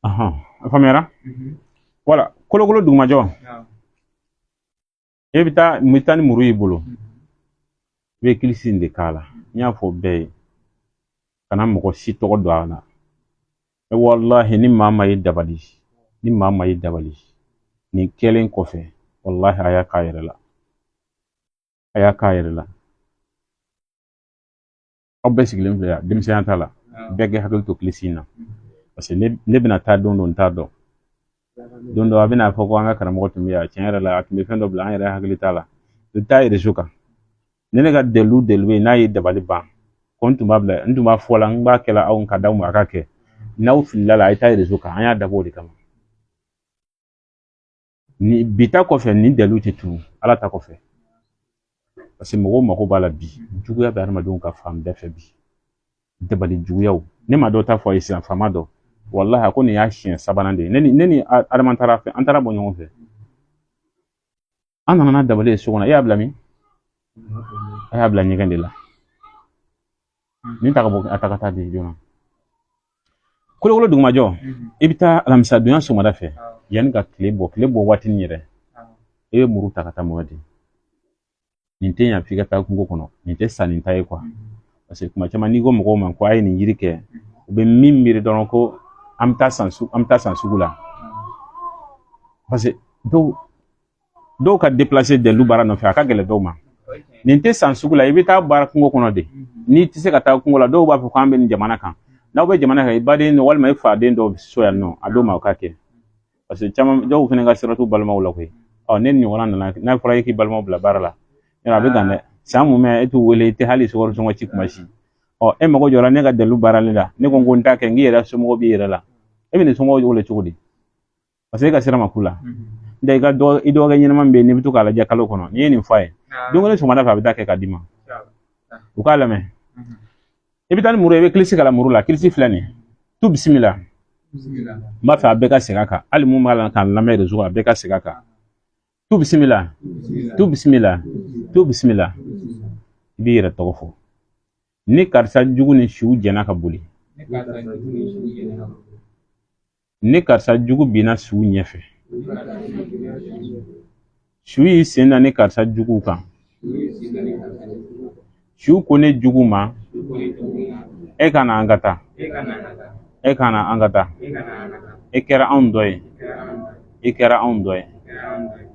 Ahan, a faamuyara wala kolokolo dugumajɔ e bɛ taa n bɛ taa ni muru y'i bolo i bɛ kilisi in de k'a la n y'a fɔ bɛɛ ye kana mɔgɔ si tɔgɔ don a la e walahi ni maa maa y'i dabali ni maa maa y'i dabali nin kɛlen kɔfɛ walahi a y'a k'a yɛrɛ la a y'a k'a yɛrɛ la aw bɛɛ sigilen filɛ yan denmisɛnya t'a la bɛɛ k'i hakili to kilisi in na parce que ne bɛna taa don dɔ n t'a dɔn don dɔ a bɛna fɔ ko an ka karamɔgɔ tun bɛ yan tiɲɛ yɛrɛ la a tun bɛ fɛn dɔ bila an yɛrɛ hakili t'a la i bɛ taa erezo kan ne ne ka dalilu dalilu bɛ yen n'a ye dabali ban ko n tun b'a bila n tun b'a fɔ la n b'a kɛla aw ka d'aw ma a ka kɛ n'aw filila a la a ye taa erezo kan an y'a dabɔ o de kama ni bi ta kɔfɛ nin dalilu tɛ turu ala ta kɔfɛ paseke mɔgɔw mako b'a la bi juguya bɛ adamadenw kan fan bɛɛ fɛ bi dabali juguyaw ne ma dɔ ta fɔ a ye sisan faama dɔ walahi a ko nin y'a siɲɛ sabanan de ye ne ni ne ni adama taar'a fɛ an taara bɔ ɲɔgɔn fɛ an nana n'a dabali ye so kɔnɔ e y'a bila min a y'a bila ɲɛgɛn de la nin ta ka bɔ a ta ka taa di joona kolokolo dugumajɔ i bɛ taa alamisa donya sɔgɔmada fɛ yanni ka tile bɔ tile bɔ waati min yɛrɛ i bɛ muru ta ka taa mɔgɔ di nin tɛ yan f'i ka taa kungo kɔnɔ nin tɛ sanni ta ye parce que kuma caman n'i ko mɔgɔw ma ko a ye nin yiri kɛ u bɛ min miiri dɔrɔn ko an bɛ taa san sugu an bɛ taa san sugu la parce que dɔw dɔw ka deplase dalilu baara nɔfɛ a ka gɛlɛn dɔw ma nin tɛ san sugu la i bɛ taa baara kungo kɔnɔ de n'i tɛ se ka taa kungo la dɔw b'a fɔ k'an bɛ nin jamana kan n'aw bɛ jamana kan i baden walima i faden dɔw so yan nɔ a d'o ma o k'a kɛ parce que caman dɔw fana ka sira t'u balimaw la koyi ɔ ne ɲɔgɔnna nana n'a fɔra e k'i balimaw bila baara la yɔrɔ a bɛ dan dɛ san mumɛ e t'u wele i tɛ hali sukaro sɔngɔ ci kuma si ɔ e mago jɔra ne ka dalilu baarali la ne ko n ko n t'a kɛ nk'i yɛrɛ somɔgɔw b'i yɛrɛ la e bɛn'i somɔgɔw wele cogo di paseke e ka sira ma k'u la n tɛ i ka dɔgɔ i dɔgɔkɛ ɲɛnama min bɛ yen n'i bɛ to k'a lajɛ kalo kɔnɔ n'i ye nin fɔ a ye don kelen sɔgɔmada fɛ a bɛ taa kɛ ka d'i ma u k'a lamɛn i bɛ taa ni muru ye i bɛ kilisi kalan muru la kilisi filɛ nin ye tu bisimila n b'a fɛ a bɛɛ ka segin a kan hali mun b'a la k'an lamɛn rezo a bɛɛ ka segin a kan tu bisimila tu bisimila tu bisimila i b'i yɛrɛ tɔgɔ fɔ ni karisa jugu ni suw jɛnna ka boli ni karisa jugu binna suw ɲɛfɛ suw y'i sen da ni karisa jugu kan suw ko ne jugu ma e ka na an ka taa e ka na an ka taa e kɛra anw dɔ ye e kɛra anw dɔ ye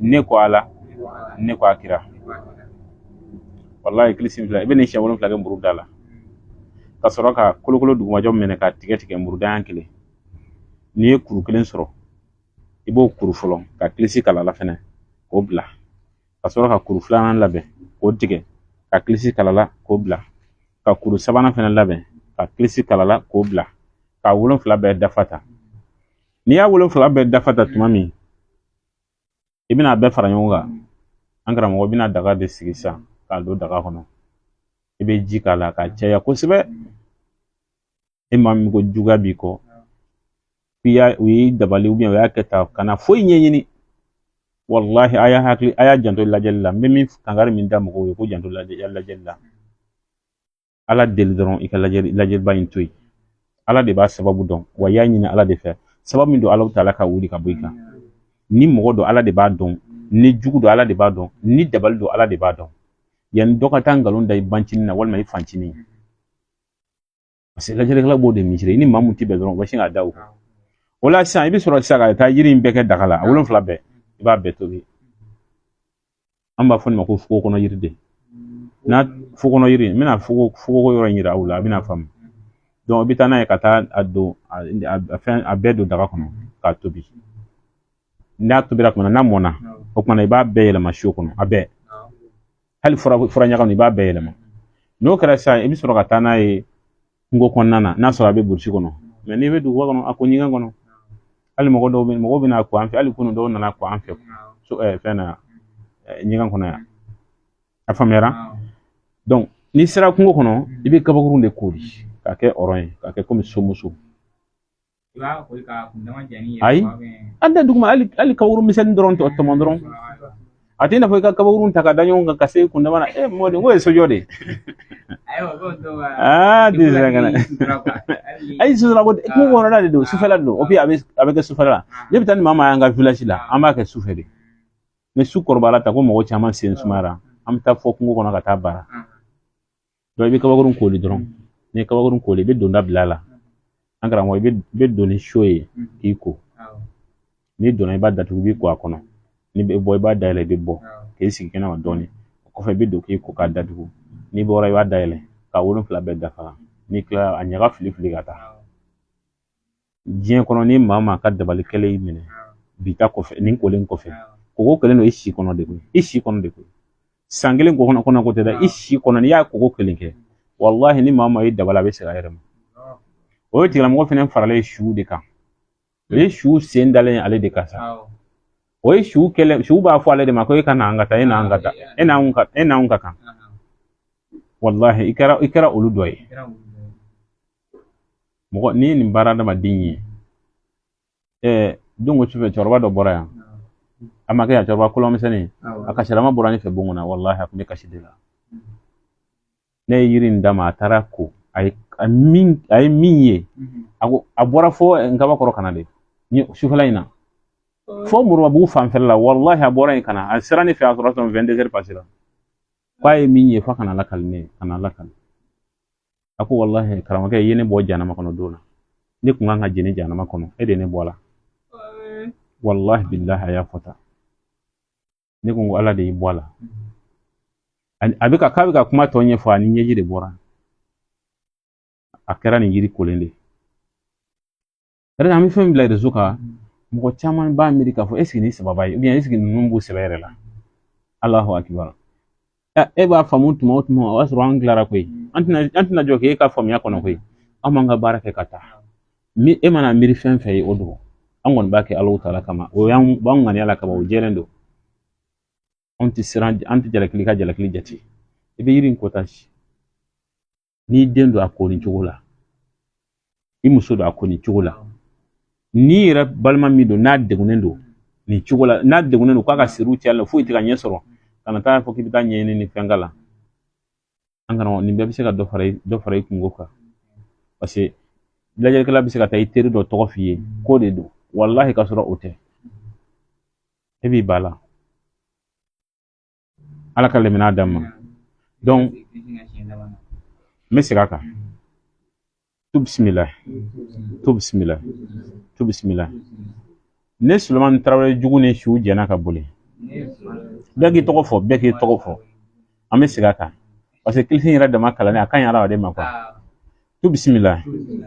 ne kɔ ala ne kɔ a kira walayi kilisi filɛ i bɛ nin siɲɛ wolonfila kɛ muru da la ka sɔrɔ ka kolokolo dugumajɔ minɛ ka tigɛ tigɛ muru da ɲɛ kelen n'i ye kuru kelen sɔrɔ i b'o kuru fɔlɔ ka kilisi kala la fɛnɛ k'o bila ka sɔrɔ ka kuru filanan labɛn k'o tigɛ ka kilisi kala la k'o bila ka kuru sabanan fɛnɛ labɛn ka kilisi kala la k'o bila ka wolonfila bɛɛ dafa tan n'i y'a wolonfila bɛɛ dafa tan tuma min i bɛna a bɛɛ fara ɲɔgɔn kan an karamɔgɔ bɛna daga de sigi sisan k'a don daga kɔnɔ i bɛ ji k'a la k'a caya kosɛbɛ e maa min ko juguya b'i kɔ i y'a u y'i dabali u y'a kɛ tan kana foyi ɲɛɲini walahi a y'a hakili a y'a janto lajɛli la n bɛ min kangari min da mɔgɔw ye ko janto lajɛli la ala deli dɔrɔn i ka lajɛli lajɛliba in to yen ala de b'a sababu dɔn wa i y'a ɲini ala de fɛ sababu min don ala ta ala k'a wuli k'a bɔ i kan ni mɔgɔ don ala de b'a dɔn ni jugu don ala de b'a dɔn ni dabali don ala de b'a dɔn yanni dɔ ka taa nkalon da i bancinin na walima i fancinin Paseke lajɛlikɛla b'o de miiri i ni maa min tɛ bɛn dɔrɔn u bɛ sin k'a da o kan o la sisan i bɛ sɔrɔ sisan ka taa yiri in bɛɛ kɛ daga la a wolonfila bɛɛ i b'a bɛɛ tobi an b'a fɔ nin ma ko fuko kɔnɔ yiriden n'a fuko kɔnɔ yiri n bɛna foko foko yɔrɔ in yira aw la a bɛna faamu i bɛ taa n'a ye ka taa a don a fɛn a bɛɛ don daga kɔnɔ k'a tobi n'a tobira kuma n'a mɔnna o kuma na i b'a bɛɛ yɛlɛma so kɔnɔ a bɛɛ hali fura fura ɲaga i b'a bɛɛ yɛlɛma n'o kɛra sisan i bɛ sɔrɔ ka taa n'a ye kungo kɔnɔna na n'a sɔrɔ a bɛ burusi kɔnɔ mɛ n'i bɛ duguba kɔnɔ a ko ɲɛgɛn kɔnɔ hali mɔgɔ dɔw bɛ mɔgɔw bɛ na ko an fɛ hali kunu dɔw nana ko an fɛ so ɛɛ fɛn na ɲɛgɛn kɔnɔ yan a faamuyara donc n'i sera kungo kɔnɔ i bɛ kabakurun de kori k'a kɛ ɔrɔn ye k'a kɛ komi somuso ayi a da duguma hali kabakuru misɛnnin dɔrɔn tɔ tɔmɔ dɔrɔn a tɛ i n'a fɔ i ka kabakurun ta ka da ɲɔgɔn kan ka se kundama na e mɔden ko ye sojɔ de ye aa den sera ka na ayi sufɛla ko kungo kɔnɔna de don sufɛla de don o bi a bɛ a bɛ kɛ sufɛla la ne bɛ taa ni maa maa y'an ka village la an b'a kɛ sufɛ de ni su kɔrɔbayara ta ko mɔgɔ caman sen sumayara an bɛ taa fo kungo kɔnɔ ka taa baara i bɛ kabakurun koli dɔrɔn n'i ye kabakurun koli i bɛ donda bila a la an karamɔgɔ i bɛ don ni so ye k'i ko n'i donna i b'a datugu i b'i ko a kɔnɔ n'i bɛ bɔ i b'a dayɛlɛ i bɛ bɔ k'i sigi kɛnɛma dɔɔnin o kɔfɛ i bɛ don k'i ko k'a datugu n'i bɔra i b'a dayɛlɛ ka wolonfila bɛɛ dafa n'i kilala a ɲaga fili fili ka taa diɲɛ kɔnɔ ni maa maa ka dabali kɛlen y'i minɛ bi ta kɔfɛ nin kolen kɔfɛ koko kelen don i si kɔnɔ de koyi i si kɔnɔ de koyi san kelen kɔnɔ kɔnɔ ko tɛ dɛ i si kɔnɔ n'i y'a koko kelen kɛ walahi ni maa maa y'i dabali a bɛ segin a yɛrɛ ma o tigilamɔgɔ fɛnɛ faralen su de kan o ye su sen dalen ale de kan sa o ye su kɛlɛ su b'a fɔ ale de ma ko e ka na an ka taa e n'an ka taa e n'an ka e n'an ka kan walahi i kɛra i kɛra olu dɔ ye mɔgɔ n'i ye nin baara adamaden ye ɛɛ don ko sufɛ cɛkɔrɔba dɔ bɔra yan a ma kɛ yan cɛkɔrɔba kolomisɛnnin a kasirama bɔra ne fɛ bon kɔnɔ walahi a kun bɛ kasi de la ne ye yiri in d'a ma a taara ko a ye a min a ye min ye a ko a bɔra fo nkabakɔrɔ ka na de ni sufɛla in na fo moribabugu fanfɛla la walahi a bɔra yen ka na a sera ne fɛ a sɔrɔ tun wɛn dezɛri pasera k'a ye min ye fo ka n'a lakali ne ye ka n'a lakali a ko walahi karamɔgɔkɛ i ye ne bɔ janama kɔnɔ don na ne kun kan ka jeni janama kɔnɔ e de ne bɔ a la walahi bilahi a y'a fɔ tan ne ko n ko ala de y'i bɔ a la a bɛ ka k'a bɛ ka kuma tɔ ɲɛfɔ a ni ɲɛji de bɔra a kɛra nin yiri kolen de Yɔrɔ an bɛ fɛn bila rezo kan mɔgɔ caman b'a miiri k'a fɔ eseke ni sababa ye eseke ninnu b'u sɛbɛ yɛrɛ la alahu akibaru e b'a faamu tuma o tuma o y'a sɔrɔ an tilara koyi an tɛna an tɛna jɔ k'e ka faamuya kɔnɔ koyi an b'an ka baara kɛ ka taa ni e mana miiri fɛn fɛn ye o don an kɔni b'a kɛ ala taala kama o y'an b'an ŋaniya ala kama o jɛlen don anw tɛ siran an tɛ jalaki ka jalaki jate i bɛ yiri in kɔta si n'i den don a ko nin cogo la i muso don a ko nin cogo la n'i yɛrɛ balima min don n'a degunnen don nin cogo la n'a degunnen don k'a ka siriw cayala fo i tɛ ka ɲɛ sɔrɔ kana t'a fɔ k'i bɛ taa ɲɛɲini ni fɛn k'a la an karamɔgɔ nin bɛɛ bɛ se ka dɔ fara i dɔ fara i kunko kan paseke lajɛlikɛla bɛ se ka taa i teri dɔ tɔgɔ f'i ye k'o de don walahi ka sɔrɔ o tɛ e b'i ban a la ala ka lamɛnna d'a ma n bɛ segin a kan tu bisimila tu bisimila tu bisimila ne sulemani tarawele jugu ni su jɛnna ka boli bɛɛ k'i tɔgɔ fɔ bɛɛ k'i tɔgɔ fɔ an bɛ segin a kan paseke kilisi yɛrɛ dama kalanni a ka ɲi hadamaden ma kuwa tu bisimila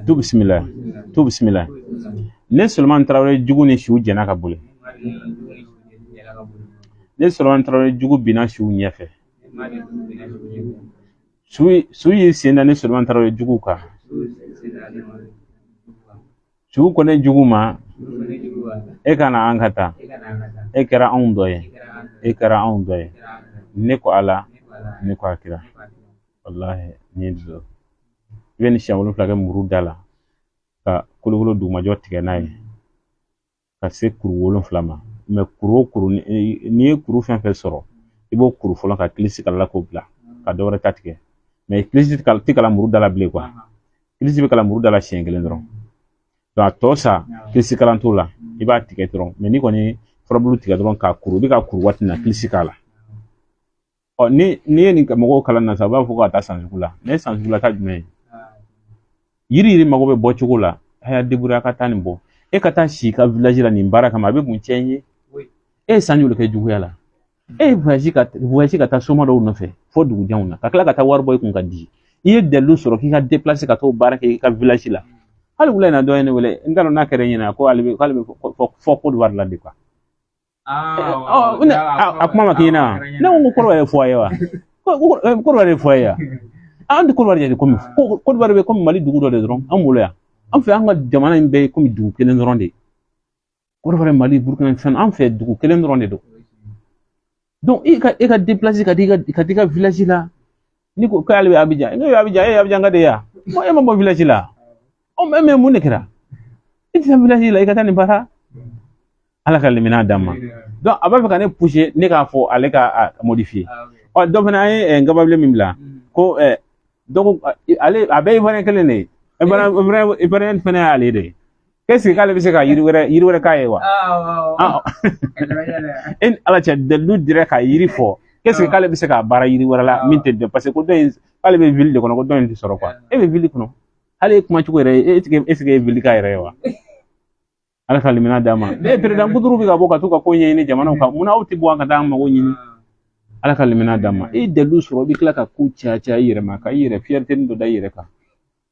tu bisimila tu bisimila ne sulemani tarawele jugu ni suw jɛnna ka boli ne sulemani tarawele jugu binna suw ɲɛfɛ su y'i sen da ne sulemani tarawele jugu kan su ko ne jugu ma e ka na an ka taa e kɛra anw dɔ ye e kɛra anw dɔ ye ne ko ala ne ko a kira walahi n ye dulɔ i bɛ nin siɲɛ wolonfila kɛ muru da la ka kolokolo dugumajɔ tigɛ n'a ye ka se kuru wolonfila ma mɛ kuru o kuru n'i ye kuru fɛn fɛn sɔrɔ i b'o kuru fɔlɔ ka kilisi kalan a la k'o bila ka dɔ wɛrɛ ta tigɛ mɛ kilisi tɛ kalan muru da la bilen kuwa kilisi bɛ kalan muru da la siɲɛ kelen dɔrɔn a tɔ sa kilisi kalan t'o la i b'a tigɛ dɔrɔn mɛ n'i kɔni furabulu tigɛ dɔrɔn k'a kuru i bɛ k'a kuru waati min na kilisi k'a la ɔ ni n'i ye nin mɔgɔw kalan na sa u b'a fɔ ko ka taa san sugu la ne ye san sugu la ta jumɛn ye yiri yiri mago bɛ bɔ cogo la a y'a débrouiller ka taa nin bɔ e ka taa si i ka village la nin baara kama a bɛ mun tiɲɛ ye e ye san joli kɛ juguya la e ye voyage ka voyage ka taa soma dɔw nɔfɛ fo dugu janw na ka tila ka taa wari bɔ i kun ka di i ye dalilu sɔrɔ k'i ka déplacer ka t'o baara kɛ i ka village la hali wula in na dɔ ye ne wele n t'a dɔn n'a kɛra e ɲɛna ko ale bɛ k'ale bɛ fo Côte d'Ivoire la de quoi a kuma ma k'i na ne ko kɔrɔ ye fɔ a ye wa kɔrɔ de fɔ a ye an tɛ kɔrɔbali yɛrɛ komi kɔrɔbali bɛ komi mali dugu dɔ de dɔrɔn an bolo yan an fɛ an ka jamana in bɛɛ ye komi dugu kelen dɔrɔn de ye kɔrɔbali mali burukina fɛn an fɛ dugu kelen dɔrɔn de don i ka e ka ka di ka di ka la ni ko k'ale bɛ abijan ne bɛ abijan e ye abijanka de ye wa ko e ma bɔ village la o même mun de kɛra i tɛ taa village la i ka taa nin baara ala ka limina d'a ma donc a b'a fɛ ka ne pousser ne k'a fɔ ale ka a modifier ɔ dɔ fana an ye eh, nkababilen min bila ko eh, donc ale a bɛɛ ye ivoirien kelen de ye ivoirien ivoirien fana y'ale de ye est-ce que k'ale bɛ se ka yiri wɛrɛ yiri wɛrɛ k'a ye wa ala cɛ dalilu dira ka yiri fɔ est-ce que k'ale bɛ se ka baara yiri wɛrɛ la min tɛ dɔn parce que ko dɔ in k'ale bɛ ville de kɔnɔ ko dɔ in tɛ sɔrɔ e bɛ ville kɔnɔ hali e kuma cogo yɛrɛ e tɛ est-ce que e ville ka yɛrɛ ye wa ala ka limina d'a ma ne peredan buturu bɛ ka bɔ ka to ka ko ɲɛɲini jamanaw kan munna aw tɛ bɔ an ka taa an mago ɲini ala ka limina d'a ma e dalilu sɔrɔ i bɛ tila ka ko caya caya i yɛrɛ ma ka i yɛrɛ fierténi dɔ da i yɛrɛ kan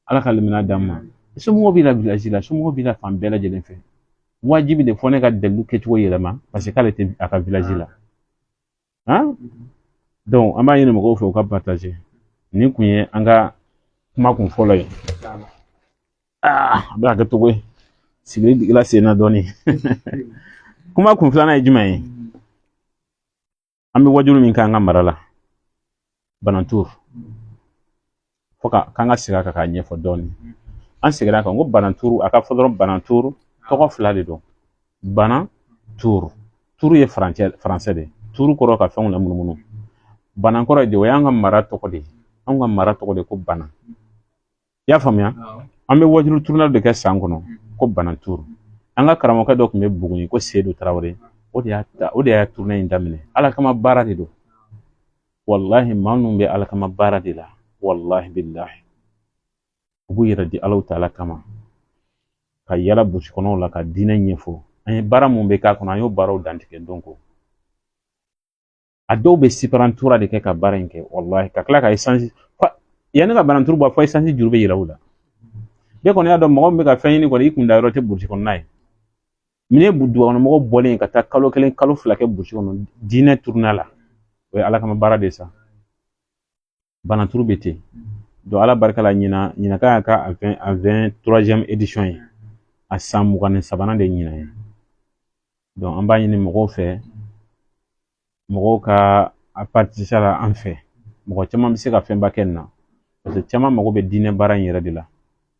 ala ka limina d'an ma somɔgɔw b'i la village la somɔgɔw b'i la fan bɛɛ lajɛlen fɛ wajibi de fo ne ka dalilu kɛcogo yɛlɛma parce que k'ale tɛ a ka village la han ah. donc an b'a ɲini mɔgɔw fɛ u ka partager nin kun ye an ka kuma kun fɔlɔ ye ah, a bɛ ka kɛ cogo ye sigili digila sen na dɔɔnin kuma kun filanan ye jumɛn ye an bɛ wajulu min k'an ka mara la bananturu fo ka k'an ka segin a kan k'a ɲɛfɔ dɔɔnin an seginna a kan ko bananturu a ka fɔ dɔrɔn bananturu tɔgɔ fila de don banan turu turu ye faransɛ faransɛ de turu kɔrɔ ka fɛnw lamunumunu banan kɔrɔ de o y'an ka mara tɔgɔ de ye anw ka mara tɔgɔ de ko banan i y'a faamuya an bɛ wajulu tournée de kɛ san kɔnɔ ko banan turu an ka karamɔgɔkɛ dɔ tun bɛ buguni ko sedu tarawele o de y'a ta o de y'a tournée in daminɛ ala kama baara de don walahi maa minnu bɛ ala kama baara de la walahi bilahi u b'u yɛrɛ di alahu taala kama ka yala burusi kɔnɔw la ka diinɛ ɲɛfɔ an ye baara mun bɛ k'a kɔnɔ an y'o baaraw dantigɛ donc a dɔw bɛ siparantura de kɛ ka baara in kɛ walahi ka tila ka esansi yanni ka bananturu bɔ fɔ esansi juru bɛ yɛlɛn u la bɛɛ kɔni y'a dɔn mɔgɔ min bɛ ka fɛn ɲini kɔni i kun da yɔrɔ tɛ burusi kɔnɔna ye min ye dugukɔnɔmɔgɔ bɔlen ka taa kalo kelen kalo fila kɛ burusi kɔnɔ diinɛ turuna la o ye ala kama baara de ye sa bananturu bɛ ten donc ala barika la ɲinan ɲinan kan y'a ka a vɛn a vɛnturaziɛmu edisɔn ye a san mugan ni sabanan de ɲinan ye donc an b'a ɲini mɔgɔw fɛ mɔgɔw ka a paritisipe la an fɛ mɔgɔ caman bɛ se ka fɛnba kɛ nin na paseke caman mago bɛ diinɛ baara in yɛrɛ de la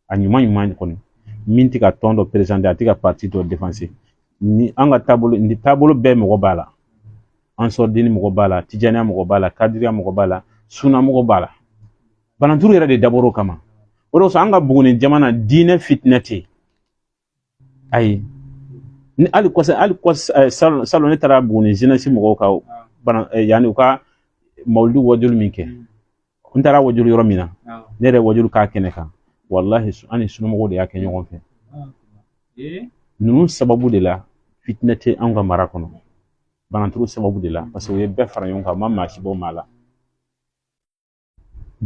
a ɲuman ɲuman kɔni min tɛ ka tɔn dɔ perezante a tɛ ka pati dɔ defanse ni an ka taabolo ni taabolo bɛɛ mɔgɔ b'a la ansardini mɔgɔ b'a la tijaniya mɔgɔ b'a la kadiriya mɔgɔ b'a la suna mɔgɔ b'a la bananturu yɛrɛ de dabɔra o kama o de kosɔn an ka buguni jamana diinɛ fitinɛ tɛ yen ayi ni hali kɔsa hali kɔsa salon salon ne taara buguni zenɛsi mɔgɔw ka bana yanni u ka mawuludi wajulu min kɛ n taara wajulu yɔrɔ min na ne yɛrɛ wajulu k'a kɛnɛ kan walahi an ni sunamɔgɔw de y'a kɛ ɲɔgɔn fɛ ninnu sababu de la fitinɛ tɛ anw ka mara kɔnɔ bananturu sababu de la parce que u ye bɛɛ fara ɲɔgɔn kan u ma maa si bɔ maa la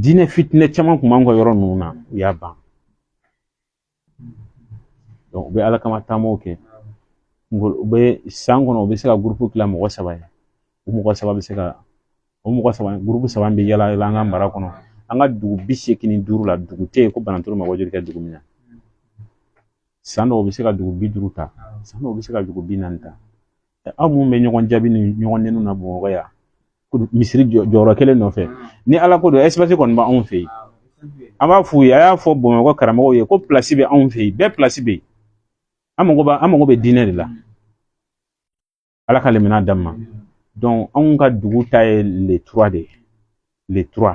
diinɛ fitinɛ caman kun b'an ka yɔrɔ ninnu na u y'a ban u bɛ ala kama taamaw kɛ u bɛ san kɔnɔ u bɛ se ka gurupu kila mɔgɔ saba ye o mɔgɔ saba bɛ se ka o mɔgɔ saba gurupu saba bɛ yala yala an ka mara kɔnɔ an ka dugu bi seegin ni duuru la dugu tɛ yen ko bananturu ma wajulu kɛ dugu min na san dɔw u bɛ se ka dugu bi duuru ta san dɔw u bɛ se ka dugu bi naani ta aw minnu bɛ ɲɔgɔn jaabi ni ɲɔgɔn neni na bamakɔ yan misiri jɔyɔrɔ kelen nɔfɛ ni ala ko don ɛsipasi kɔni bɛ anw fɛ yen an b'a f'u ye a y'a fɔ bamakɔ karamɔgɔw ye ko pilasi bɛ anw fɛ yen bɛɛ pilasi bɛ yen an mago b'a an mago bɛ diinɛ de la ala ka limaniya d'an ma donc anw ka dugu ta ye le tura de ye le tura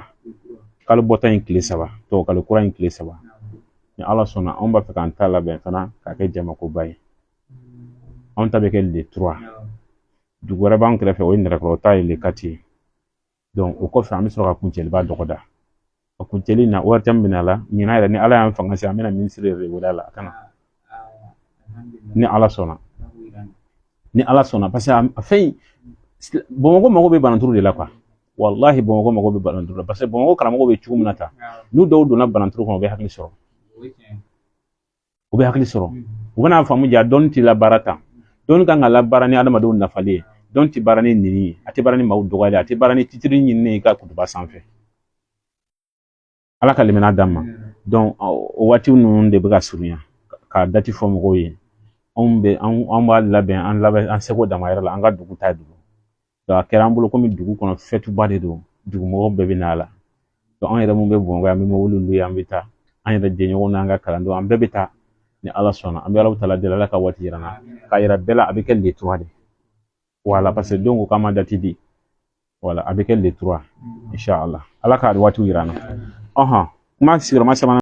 kalo bɔta in tile saba tubabukalo kura in tile saba ni ala sɔnna anw b'a fɛ k'an ta labɛn fana k'a kɛ jamakoba ye anw ta bɛ kɛ le tura dugu wɛrɛ b'an kɛrɛfɛ o ye nɛrɛkɔrɔ ta ye le kati ye o kɔfɛ an bɛ sɔrɔ ka kuncɛliba dɔgɔda a kuncɛli na wari caman bɛ na a la ɲinan yɛrɛ ni ala y'an fanga se an bɛna minisiri yɛrɛ de wele a la a ka na ni ala sɔnna ni ala sɔnna parce que a fɛn bamakɔ mago bɛ bananturu de la kuwa walahi bamakɔ mago bɛ bananturu la parce que bamakɔ karamɔgɔw bɛ cogo min na tan n'u dɔw donna bananturu kɔnɔ u bɛ hakili sɔrɔ u bɛ hakili sɔrɔ u bɛna faamu jaa dɔnni tɛ labaara tan dɔnni kan ka labaara ni adamadenw nafali ye dɔnni tɛ baara ni neni ye a tɛ baara ni maaw dɔgɔyali a tɛ baara ni titiri ɲinini ye ka kutuba sanfɛ ala ka limaniya d'an ma donc o waati ninnu de bɛ ka surunya k'a dati fɔ mɔgɔw ye anw bɛ anw b'a labɛn an labɛn an seko damayira la an ka dugu ta dugu a kɛra an bolo kɔmi dugu kɔnɔ fɛtuba de don dugumɔgɔw bɛɛ bɛ na a la anw yɛrɛ mun bɛ bamakɔ yan an bɛ mobili luwe an bɛ taa an yɛrɛ jɛɲɔgɔn n'an ka kalandenw an bɛɛ bɛ taa ni ala sɔnna an bɛ ala taala deli ala ka waati yira an na k'a yira bɛɛ la a bɛ kɛ nin cogoya de ye voilà parce que donc u k'an ma dati di voilà a bɛ kɛ le trois inshallah ala ka waati yira an na ɔhɔn kuma sigiyɔrɔma sabanan